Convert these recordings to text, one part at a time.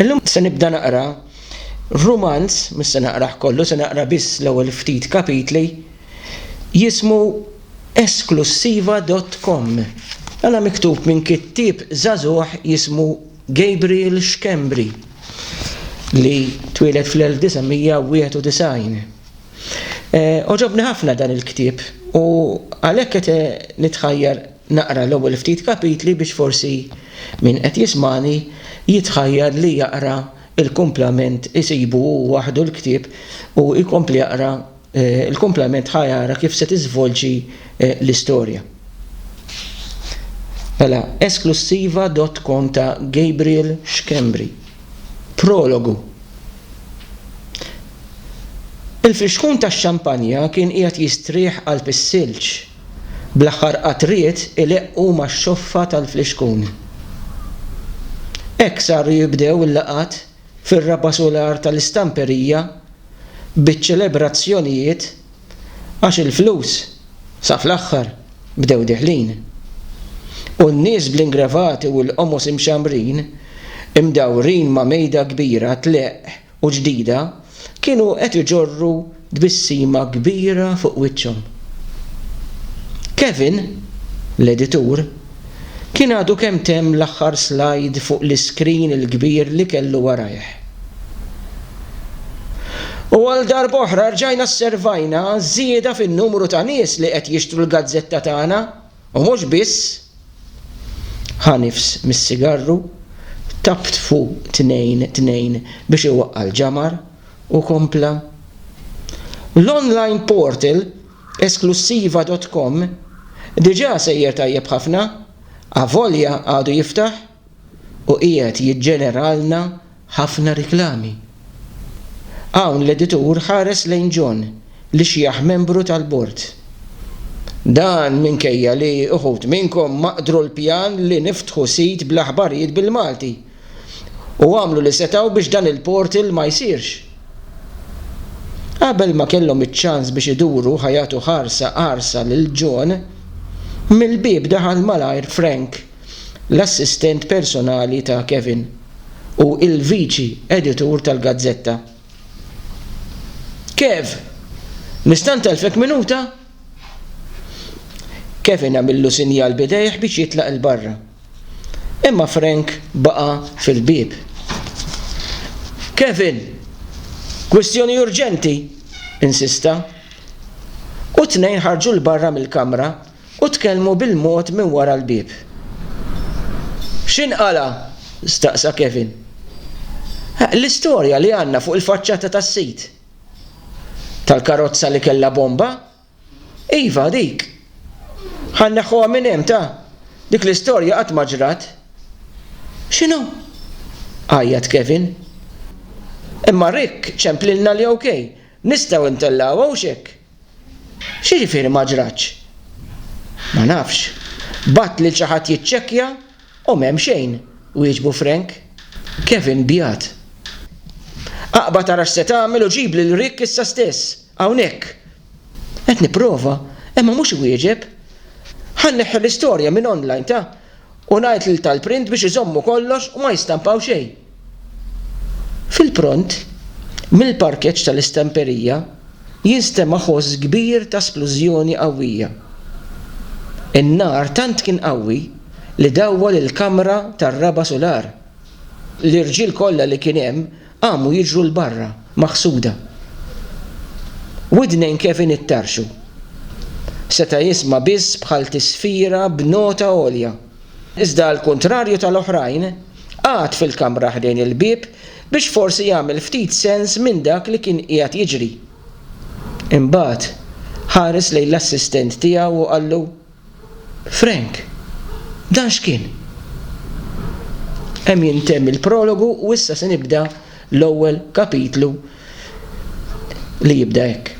Illum se nibda naqra rumanz, mhux se naqrah kollu, se naqra biss l-ewwel ftit kapitli, jismu Esklussiva dott Komm. Dan miktub minn kittieb żagħżugħ jismu Gabriel Schembri li twieled fl-1991. Għoġobni ħafna dan il-ktieb u għalhekk qed nitħajjar Naqra l-ewwel ftit kapitli biex forsi min qed jismagħni jitħajjar li jaqra l-kumplament isibu hu waħdu l-ktieb u jkompli jaqra l-kumplament ħa jara kif se tiżvolġi l-istorja. Mela, esklussiva dott com ta' Gabriel Schembri. Prologu Il-frixkun tax-xampanja kien qiegħed jistrieħ qalb is-silġ. bl-aħħar qatriet ileqqu max-xoffa tal-flixkun. Hekk saru jibdew il-laqgħat fir-raba' sular tal-istamperija biċ-ċelebrazzjonijiet għax il-flus sa fl-aħħar bdew deħlin. U n-nies bl-ingrevati u l-qomos imxammrin imdawrin ma' mejda kbira tleqq u ġdida kienu qed iġorru tbissima kbira fuq wiċċhom. Kevin, l-editur, kien għadu kemm temm l-aħħar slajd fuq l-iskrin il-kbir li kellu warajh. U għal darb'oħra rġajna sservajna żieda fin-numru ta' nies li qed jixtru l-gazzetta tagħna. U mhux biss, ħa nifs mis-sigarru, tabt fuq tnejn tnejn biex iwaqqa' l-ġamar u kompla. L-online portal Esklussiva dot com diġà sejjer tajjeb ħafna, avolja għadu jiftaħ u qiegħed jiġġeneralna ħafna riklami. Hawn l-editur ħares lejn John li xjaħ membru tal-bord. Dan minkejja li uħud minnkom ma qdru l-pjan li niftħu sit bl-aħbarijiet bil-Malti u għamlu li setgħu biex dan il-portal ma jsirx. Qabel ma kellhom iċ-ċans biex iduru ħa jagħtu ħarsa qarsa lil John, mill-bieb daħal malajr Frank. l-assistent personali ta' Kevin u l-viċi editur tal-gazzetta. Kev, nista' ntellfek minuta? Kevin għamillu sinjal b'idejh biex jitlaq 'il barra. Imma Frank baqa' fil-bieb. Kevin, kwistjoni urġenti! insista. U t-tnejn ħarġu 'l barra mill-kamra u tkellmu bil-mod minn wara l-bieb. X'inqala'? staqsa Kevin. L-istorja li għandna fuq il-faċċata tas-sit. Tal-karozza li kellha bomba? Iva, dik. Ħa nneħħuha minn hemm, ta? Dik l-istorja qatt ma ġrat. X'inhu? għajjat Kevin. Imma Rick ċemplilna li ok, nistgħu ntellgħuha hux hekk? X'jiġifieri ma ġratx? Ma nafx. Bgħatt lil xi ħadd jiċċekkja u m'hemm xejn, wieġbu Frank. Kevin bjat. Aqbad ara x'se tagħmel u ġib lil Rick issa stess, hawnhekk. Qed nipprova, imma mhux iwieġeb. Ħa nneħħi l-istorja minn online, ta? U ngħid lil tal-print biex iżommu kollox u ma jistampaw xejn. Fil-pront, mill-parkeġġ tal-istamperija jinstema' ħoss kbir ta' splużjoni qawwija. In-nar tant kien qawwi li dawwal il-kamra tar-raba' sular. L-irġiel kollha li kien hemm Qamu jiġru 'l barra, maħsuda. Widnejn Kevin ittarrxu. Seta' jisma' biss bħal tisfira b'nota għolja. Iżda għall-kuntrarju tal-oħrajn, qagħad fil-kamra ħdejn il-bieb biex forsi jagħmel ftit sens minn dak li kien qiegħed jiġri. Imbagħad, ħares lejn l-assistent tiegħu u qallu. Frank, Dan x'kien? Hemm jintemm il-prologu u issa se nibda l-ewwel kapitlu li jibda hekk,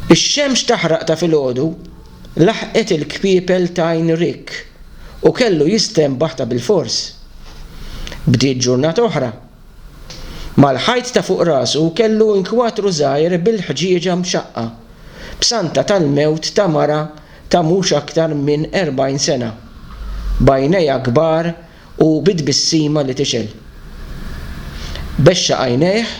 Ix-xemx taħraq ta' filgħodu laħqet il-kpiepel t'għajn Rick u kellu jistenbaħ ta' bilfors. Bdiet ġurnata oħra. Mal-ħajt ta' fuq rasu kellu inkwatru żgħir bil-ħġieġa mxaqqa b'santa tal-mewt ta' mara ta' mhux aktar minn 40 sena, b'għajnejha kbar u bi tbissima li tixgħel. Bexxa għajnejh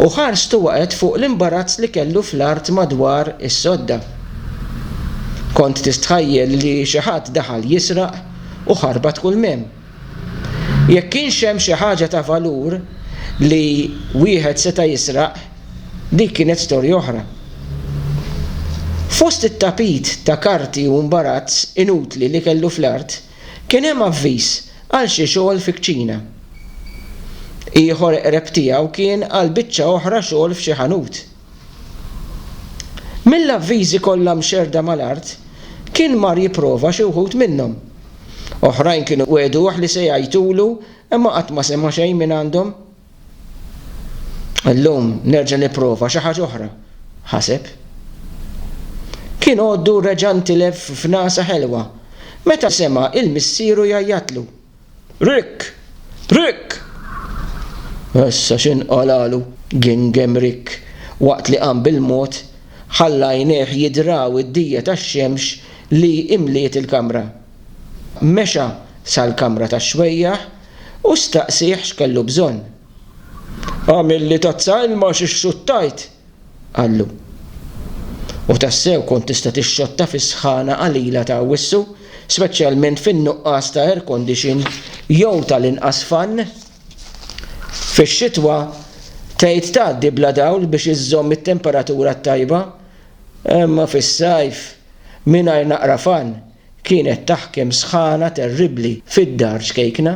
u ħarstu waqgħet fuq l-imbarazz li kellu fl-art madwar is-sodda. Kont tistħajjel li xi ħadd daħal jisraq u ħarbat kulmhemm. Jekk kienx hemm xi ħaġa ta' valur li wieħed seta' jisraq, dik kienet storja oħra. Fost it-tapit ta' karti u mbarazz inutli li kellu fl-art, kien hemm avviż għal xi xogħol fi kċina. Ieħor qreb tiegħu kien għal biċċa oħra xogħol f'xi ħanut. Mill-avviżi kollha mxerrda mal-art, kien mar jipprova xi wħud minnhom. Oħrajn kienu wegħduh li se jgħajtulu imma qatt ma sema' xejn mingħandhom. Illum nerġa' nipprova xi ħaġa oħra, ħaseb. Kien għoddu reġa' ntilef f'nagħsa ħelwa meta sema' 'l missieru jgħajjatlu. Rick! Rick! Issa x'inqalalu? gengemm Rick waqt li qam bil-mod, ħalla għajnejh jidraw id-dija tax-xemx li imliet il-kamra. Mexa sal-kamra tax-xwejjaħ u staqsieh x'kellu bżonn. Agħmilli tazza ilma għax ixxuttajt! qallu. U tassew kont tista' tixxotta fis-sħana qalila ta' Awwissu, speċjalment fin-nuqqas ta' air condition jew tal-inqas fan. Fix-xitwa tgħid tgħaddi bla dawl biex iżżomm it-temperatura t-tajba, imma fis-sajf mingħajr naqra fan Kienet taħkem sħana terribbli fid-dar ċkejkna.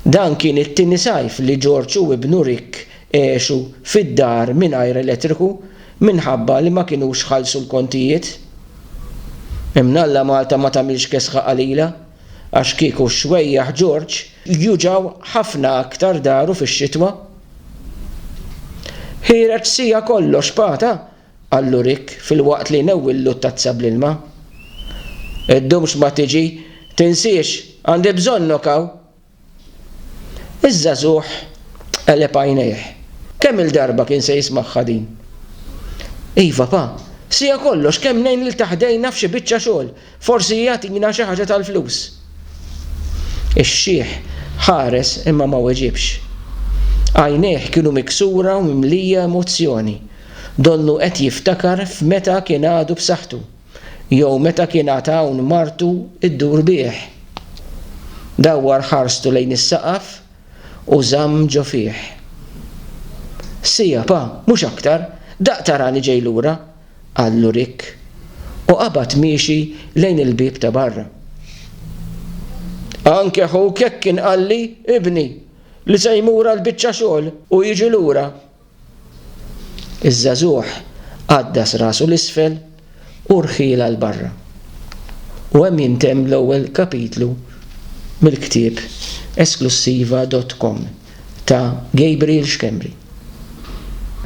Dan kien it-tieni sajf li George u ibnu Rick għexu fid-dar mingħajr elettriku minħabba li ma kinux ħallsu l-kontijiet. Imnalla Malta ma tagħmilx kesħa qalila għax kieku x-xwejjaħ George juġgħu ħafna aktar daru fix-xitwa. Ħireġ siegħa kollox pata qal Lurick filwaqt li jnewwillu t-tazza bl-ilma. Iddumx ma tiġi, tinsiex, għandi bżonnok hawn! Iż-żagħżugħ qeleb għajnejh. Kemm-il darba kien se jismagħha din! Iva, Pa, sija kollox kemm ngħin lil ta' ħdejna f'xi biċċa xogħol, Forsi jagħtina xi ħaġa tal-flus. Ix-xiħ ħares imma ma weġibx. Għajnejh kienu miksura u mimlija emozzjoni, donnu qed jiftakar f'meta kien għadu b'saħħtu, jew meta kien għad hawn martu ddur bih. Dawwar ħarstu lejn is-saqaf u żamm ġo fih. Siegħa pa, mhux aktar, daqqa tara li ġej lura, qallu Rick, u qabad miexi lejn il-bieb ta' barra. Anke ħuk hekk kien qalli, ibni, li se jmur għal biċċa xogħol u jiġi lura. Iż-żagħżugħ għaddas rasu 'l isfel u rħiel għal barra. U hemm jintemm l-ewwel kapitlu mill-ktieb Esklussiva dot com ta' Gabriel Schembri.